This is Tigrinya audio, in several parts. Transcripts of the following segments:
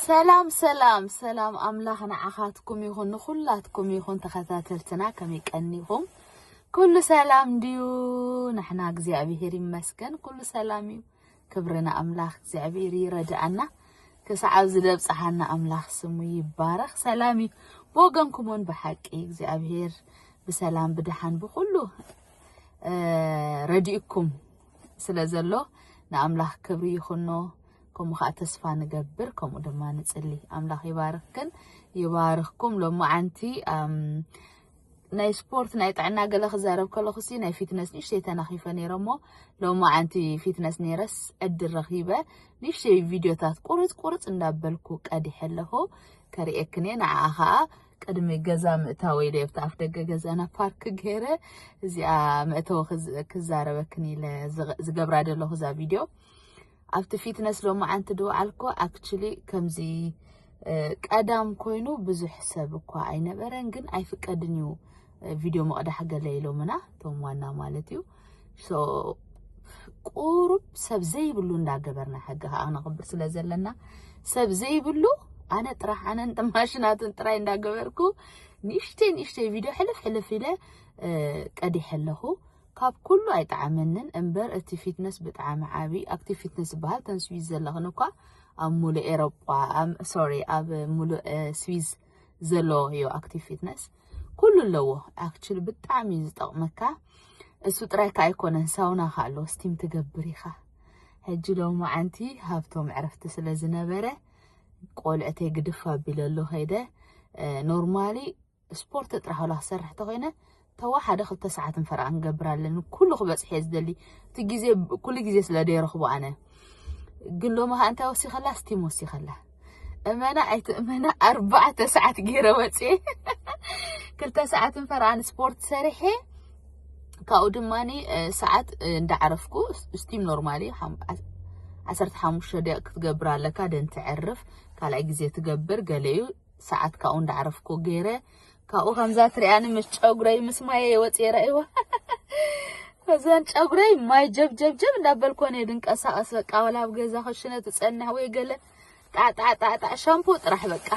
ሰላም ሰላም ሰላም ኣምላኽ ንዓኻትኩም ይኹን ንኹላትኩም ይኹን ተኸታተልትና ከመይ ቀኒኹም ኩሉ ሰላም ድዩ ንሕና እግዚኣብሄር ይመስገን ኩሉ ሰላም እዩ ክብሪ ንኣምላኽ እግዚኣብሔር ይረድኣና ክሳዕ ኣብዚ ዘብጽሓና ኣምላኽ ስሙ ይባረኽ። ሰላም እዩ ብወገንኩም እውን ብሓቂ እግዚኣብሔር ብሰላም ብድሓን ብኩሉ ረዲእኩም ስለ ዘሎ ንኣምላኽ ክብሪ ይኹኖ። ከምኡ ከዓ ተስፋ ንገብር ከምኡ ድማ ንጽሊ። ኣምላኽ ይባርኽክን ይባርኽኩም ሎማዓንቲ ናይ ስፖርት ናይ ጥዕና ገለ ክዛረብ ከለኹሲ ናይ ፊትነስ ንእሽተይ ተናኺፈ ነይረ እሞ ሎማዓንቲ ፊትነስ ነይረስ ዕድል ረኺበ ንእሽተይ ቪድዮታት ቁርፅ ቁርፅ እንዳበልኩ ቀዲሐ ኣለኹ ከርእየክን እየ ንዓኣ ከዓ ቅድሚ ገዛ ምእታወይ ኢለ ኣብቲ ኣፍ ደገ ገዛና ፓርክ ገይረ እዚኣ መእተዊ ክዛረበክን ኢለ ዝገብራ ዘለኹ እዛ ቪድዮ ኣብቲ ፊትነስ ሎማዓንቲ ድውዓልኩ ኣክችሊ ከምዚ ቀዳም ኮይኑ ብዙሕ ሰብ እኳ ኣይነበረን ግን ኣይፍቀድን እዩ ቪድዮ መቕዳሕ ገለ ኢሎምና እቶም ዋና ማለት እዩ ቁሩብ ሰብ ዘይብሉ እንዳገበርና ሕጊ ከዓ ነኽብር ስለ ዘለና ሰብ ዘይብሉ ኣነ ጥራሕ ኣነን ማሽናትን ጥራይ እንዳገበርኩ ንእሽተይ ንእሽተይ ቪድዮ ሕልፍ ሕልፍ ኢለ ቀዲሐ ኣለኹ ካብ ኩሉ ኣይጠዓመንን እምበር እቲ ፊትነስ ብጣዓሚ ዓቢ ኣክቲቭ ፊትነስ ዝበሃል ተን ስዊዝ ዘለኽን እኳ ኣብ ሙሉእ ኤሮጳ ኣም ሶሪ ኣብ ሙሉእ ስዊዝ ዘሎ ዮ ኣክቲቭ ፊትነስ ኩሉ ኣለዎ ኣክቹሊ ብጣዕሚ እዩ ዝጠቕመካ እሱ ጥራይ ከ ኣይኮነን ሳውና ከ ኣለዎ ስቲም ትገብር ኢኻ ሕጂ ሎማዓንቲ ሃብቶም ዕረፍቲ ስለ ዝነበረ ቆልዕተይ ግድፍ ኣቢለ ኣሎ ከይደ ኖርማሊ ስፖርት ጥራሕ ዋላ ክሰርሕ ተኾይነ ተዋሓደ ክልተ ሰዓትን ፈረቓን ክገብር ኣለኒ ኩሉ ክበፅሕ እየ ዝደሊ እቲ ግዜ ኩሉ ግዜ ስለ ደይረኽቦ ኣነ ግን ሎሚ ከዓ እንታይ ወሲኸላ ስቲም ወሲኸላ እመና ኣይትእመና ኣርባዕተ ሰዓት ገይረ ወፅየ ክልተ ሰዓትን ፈረቓን ስፖርት ሰሪሐ ካብኡ ድማ ሰዓት እንዳዓረፍኩ ስቲም ኖርማሊ ዓሰርተ ሓሙሽተ ደቂቕ ክትገብር ኣለካ ደን ትዕርፍ ካልኣይ ግዜ ትገብር ገለ እዩ ሰዓት ካብኡ እንዳዕረፍኩ ገይረ ካብኡ ከምዛ ትሪኣኒ ምስ ጨጉረይ ምስ ማየይ ወፅየ ራእይዋ እዘን ጨጉረይ ማይ ጀብጀብጀብ እንዳበልኮን እየ ድንቀሳቀስ በቃ ወላ ኣብ ገዛ ክሽነ ትፀንሕ ወይ ገለ ጣዕጣዕጣዕጣዕ ሻምፖ ጥራሕ በቃ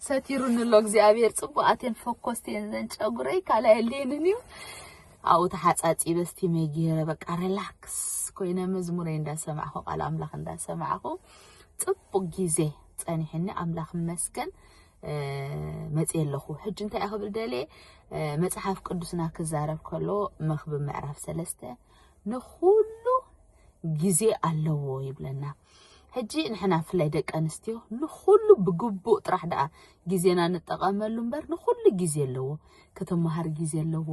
ሰቲሩኒ ኣሎ እግዚኣብሔር ፅቡቃት እየን ፎኮስቲ እየን እዘን ጨጉረይ ካልእ የድልየንን እዩ ኣብኡ ተሓፃፂበ ስቲመይ ገይረ በቃ ሪላክስ ኮይነ መዝሙረይ እንዳሰማዕኹ ቃል ኣምላኽ እንዳሰማዕኹ ጽቡቅ ግዜ ጸኒሕኒ ኣምላኽ ይመስገን መጽየ ኣለኹ ሕጂ እንታይ ክብል ደልየ መጽሓፍ ቅዱስና ክዛረብ ከሎ መክብ ምዕራፍ ሰለስተ ንኹሉ ግዜ ኣለዎ ይብለና ሕጂ ንሕና ፍላይ ደቂ ኣንስትዮ ንኹሉ ብግቡእ ጥራሕ ደኣ ግዜና ንጠቐመሉ እምበር ንኹሉ ግዜ ኣለዎ ክትመሃር ግዜ ኣለዎ፣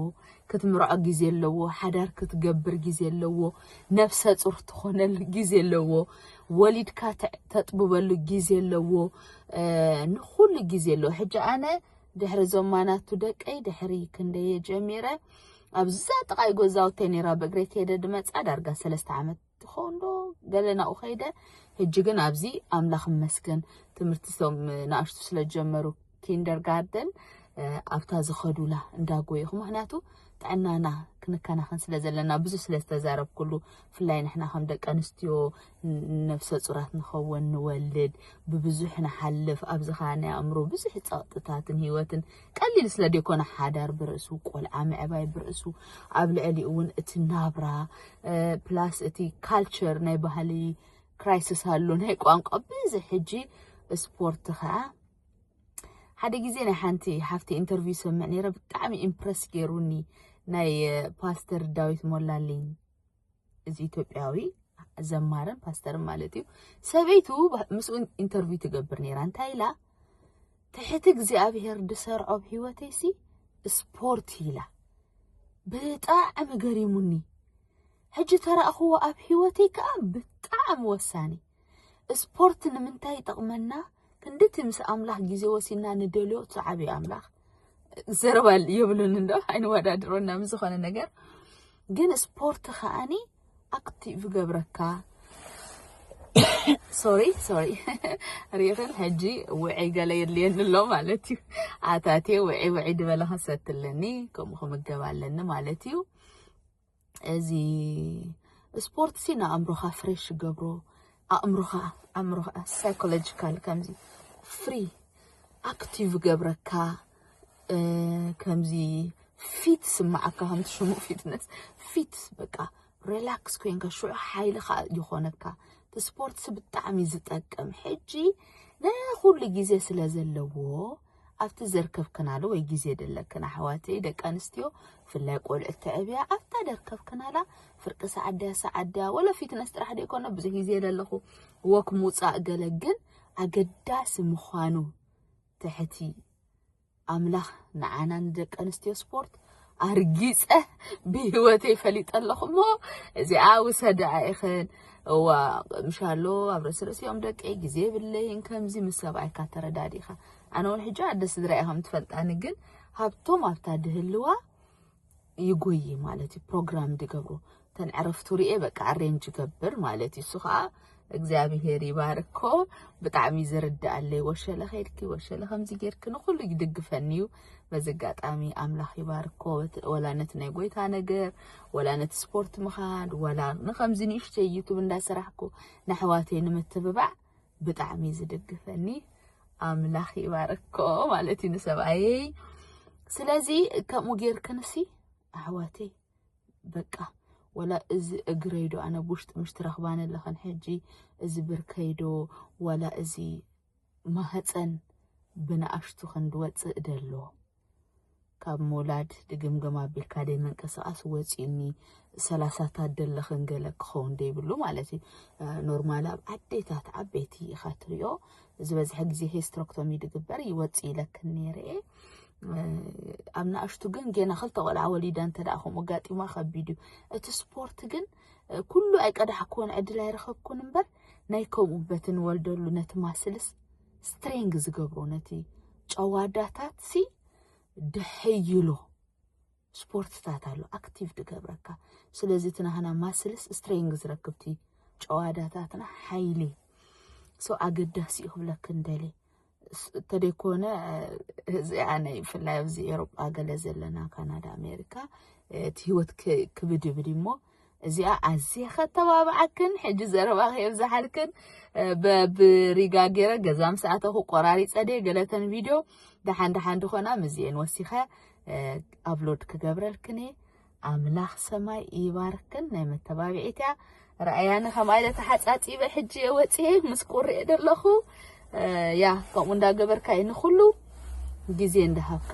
ክትምርዖ ግዜ ኣለዎ፣ ሓዳር ክትገብር ግዜ ኣለዎ፣ ነብሰ ጹር ትኾነሉ ግዜ ኣለዎ፣ ወሊድካ ተጥብበሉ ግዜ ኣለዎ፣ ንኹሉ ግዜ ኣለዎ። ሕጂ ኣነ ድሕሪ እዞም ማናቱ ደቀይ ድሕሪ ክንደየ ጀሚረ ኣብዛ ጥቓይ ጎዛውተይ ነይራ ብእግረይ ከይደ ድመጻ ዳርጋ ሰለስተ ዓመት ትኸውን ዶ ገለ ናብኡ ከይደ ሕጂ ግን ኣብዚ ኣምላኽ መስገን ትምህርቲ ሶም ንኣሽቱ ስለ ዝጀመሩ ኪንደርጋርደን ኣብታ ዝኸዱላ እንዳጎየኹ ምክንያቱ ጥዕናና ክንከናኸን ስለ ዘለና ብዙ ስለ ዝተዛረብኩሉ ብፍላይ ንሕና ከም ደቂ ኣንስትዮ ነፍሰ ፁራት ንኸውን ንወልድ ብብዙሕ ንሓልፍ ኣብዚ ከዓ ናይ ኣእምሮ ብዙሕ ፀቕጥታትን ሂወትን ቀሊል ስለ ደይኮነ ሓዳር ብርእሱ ቆልዓ ምዕባይ ብርእሱ ኣብ ልዕሊኡ እውን እቲ ናብራ ፕላስ እቲ ካልቸር ናይ ባህሊ ክራይስስ ኣሎ ናይ ቋንቋ ብዚ ሕጂ ስፖርት ከዓ ሓደ ግዜ ናይ ሓንቲ ሓፍቲ ኢንተርቪው ሰምዕ ነይረ ብጣዕሚ ኢምፕረስ ገይሩኒ ናይ ፓስተር ዳዊት ሞላልኝ እዚ ኢትዮጵያዊ ዘማርን ፓስተርን ማለት እዩ ሰበይቱ ምስኡ ኢንተርቪው ትገብር ነይራ እንታይ ኢላ ትሕቲ እግዚኣብሔር ድሰርዖ ብ ህይወተይ ሲ ስፖርት ኢላ ብጣዕሚ ገሪሙኒ ሕጂ ተራእኽዎ ኣብ ህይወተይ ከዓ ብጣዕሚ ወሳኒ ስፖርት ንምንታይ ይጠቕመና? ክንድቲ ምስ ኣምላኽ ግዜ ወሲድና ንደልዮ እቲ ዓብዪ ኣምላኽ ዘረባ የብሉን እንዶ ኣይንወዳድሮና ምስ ዝኾነ ነገር ግን ስፖርት ከዓኒ ኣክቲቭ ይገብረካ ሶሪ ሶሪ ሪኽን ሕጂ ውዒ ገለ የድልየኒ ኣሎ ማለት እዩ ኣታቴ ውዒ ውዒ ድበለ ከሰትለኒ ከምኡ ክምገብ ኣለኒ ማለት እዩ እዚ ስፖርት ሲ ንኣእምሮኻ ፍሬሽ ገብሮ ኣእምሮኻ ኣእምሮኻ ሳይኮሎጂካል ከምዚ ፍሪ ኣክቲቭ ገብረካ ከምዚ ፊት ስማዓካ ከምቲ ሽሙ ፊትነስ ፊት በቃ ሪላክስ ኮንካ ሽዑ ሓይልኻ ይኾነካ እቲ ስፖርት ብጣዕሚ ዝጠቅም ሕጂ ንኩሉ ግዜ ስለ ዘለዎ ኣብቲ ዘርከብክናሉ ወይ ግዜ ደለክን ኣሕዋተይ ደቂ ኣንስትዮ ብፍላይ ቆልዑት ተዕብያ ኣብታ ደርከብክናላ ፍርቂ ሰዓት ድያ ሰዓት ድያ ወለ ፊትነስ ጥራሕ ዶ ይኮነ ብዙሕ ግዜ ደለኹ ወክ ምውፃእ ገለ ግን ኣገዳሲ ምዃኑ ትሕቲ ኣምላኽ ንዓና ንደቂ ኣንስትዮ ስፖርት ኣርጊጸ ብህይወተይ ፈሊጠ ኣለኹ እሞ እዚኣ ውሰድኣ ኢኽን እዋ ቅምሻሎ ኣብ ርእሲ ርእሲኦም ደቀይ ግዜ የብለይን ከምዚ ምስ ሰብኣይካ ተረዳዲእኻ ኣነ እውን ሕጂ ኣደ ስድራ እየ ከም ትፈልጣኒ ግን ሃብቶም ኣብታ ድህልዋ ይጎይ ማለት እዩ ፕሮግራም ድገብሩ እተን ዕረፍቱ ርኤ በቃ ኣሬንጅ ይገብር ማለት እዩ እሱ ከዓ እግዚኣብሄር ይባርኮ ብጣዕሚ ዝርድኣለይ ወሸለ ከድኪ ወሸለ ከምዚ ጌርኪ ንኩሉ ይድግፈኒ እዩ በዚ ኣጋጣሚ ኣምላኽ ይባርኮ ወላ ነቲ ናይ ጎይታ ነገር ወላ ነቲ ስፖርት ምኻድ ወላ ንከምዚ ንእሽተ ዩቱብ እንዳሰራሕኩ ንኣሕዋተይ ንምትብባዕ ብጣዕሚ ዝድግፈኒ ኣምላኽ ይባርኮ ማለት እዩ ንሰብኣየይ ስለዚ ከምኡ ጌርክንሲ ኣሕዋተይ በቃ ወላ እዚ እግረይ ዶ ኣነ ብውሽጢ ምሽ ትረኽባኒ ኣለኽን ሕጂ እዚ ብርከይ ዶ ወላ እዚ ማህፀን ብንኣሽቱ ክንዲ ወፅእ ደሎ ካብ ምውላድ ድግምግም ኣቢልካ ደይ መንቀሳቐስ ወፂኡኒ ሰላሳታት ደለኽን ገለ ክኸውን ደይብሉ ማለት እዩ ኖርማል ኣብ ኣዴታት ዓበይቲ ኢኻ ትሪኦ ዝበዝሐ ግዜ ሄስትሮክቶሚ ድግበር ይወጽእ ኢለክን ነይረ'የ ኣብ ንኣሽቱ ግን ጌና ክልተ ቆልዓ ወሊዳ እንተ ደኣ ከምኡ ኣጋጢማ ከቢድ እዩ እቲ ስፖርት ግን ኩሉ ኣይቀዳሕኩዎን ዕድል ኣይረኸብኩን እምበር ናይ ከምኡ በቲ ንወልደሉ ነቲ ማስልስ ስትሬንግ ዝገብሮ ነቲ ጨዋዳታት ሲ ድሕይሎ ስፖርትታት ኣሎ ኣክቲቭ ድገብረካ ስለዚ እቲ ናህና ማስልስ ስትሬንግ ዝረክብቲ ጨዋዳታትና ሓይሊ ሰው ኣገዳሲ እዩ ክብለክ እንደሊ ተደይኮነ እዚኣ ናይ ብፍላይ ኣብዚ ኤሮጳ ገለ ዘለና ካናዳ ኣሜሪካ እቲ ህይወት ክብድብድ እሞ እዚኣ ኣዝየ ከተባብዓክን ሕጂ ዘረባኺ የብዛሓልክን በብሪጋ ገይረ ገዛ ምስ ኣተኹ ቆራሪፀ ድየ ገለተን ቪድዮ ደሓን ደሓን ድኾና ምስዚኤን ወሲኸ ኣብሎድ ክገብረልክን እየ ኣምላኽ ሰማይ ይባርክን ናይ መተባብዒት እያ ራእያኒ ከምኣ ኢለ ተሓፃፂበ ሕጂ እየ ወፅየ ምስ ቁርኤ ደለኹ ያ ከምኡ እንዳገበርካ እዩ ንኩሉ ግዜ እንዳሃብካ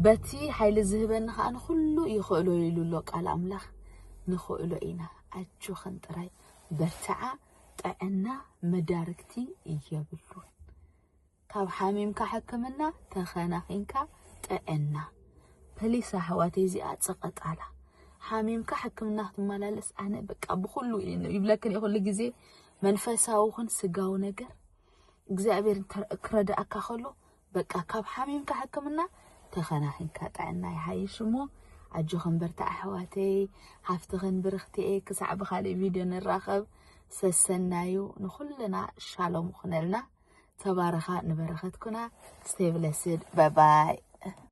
በቲ ሓይሊ ዝህበኒ ከዓ ንኩሉ ይኽእሎ ኢሉ ኣሎ ቃል ኣምላኽ ንኽእሎ ኢና ኣጆኽን ጥራይ በርትዓ ጥዕና መዳርግቲ እየብሉን ካብ ሓሚምካ ሕክምና ተኸናኺንካ ጥዕና ፕሊስ ኣሕዋተይ እዚኣ ፀቐጣላ ሓሚምካ ሕክምና ክትመላለስ ኣነ በቃ ብኩሉ ይብለክን ኩሉ ግዜ መንፈሳዊ ኹን ስጋዊ ነገር እግዚኣብሔር ክረዳእካ ከሎ በቃ ካብ ሓሚምካ ሕክምና ተከናኪንካ ጥዕና ይሓይሽ እሞ ኣጆክን በርትዕ ኣሕዋተይ ሃፍትክን ብርክቲየ ክሳዕ ብካሊእ ቪድዮ ንራከብ ሰሰናዩ ንኩልና ሻሎም ኩነልና ተባረካ ንበረከት ኩና ሴቭለስድ ባይ ባይ።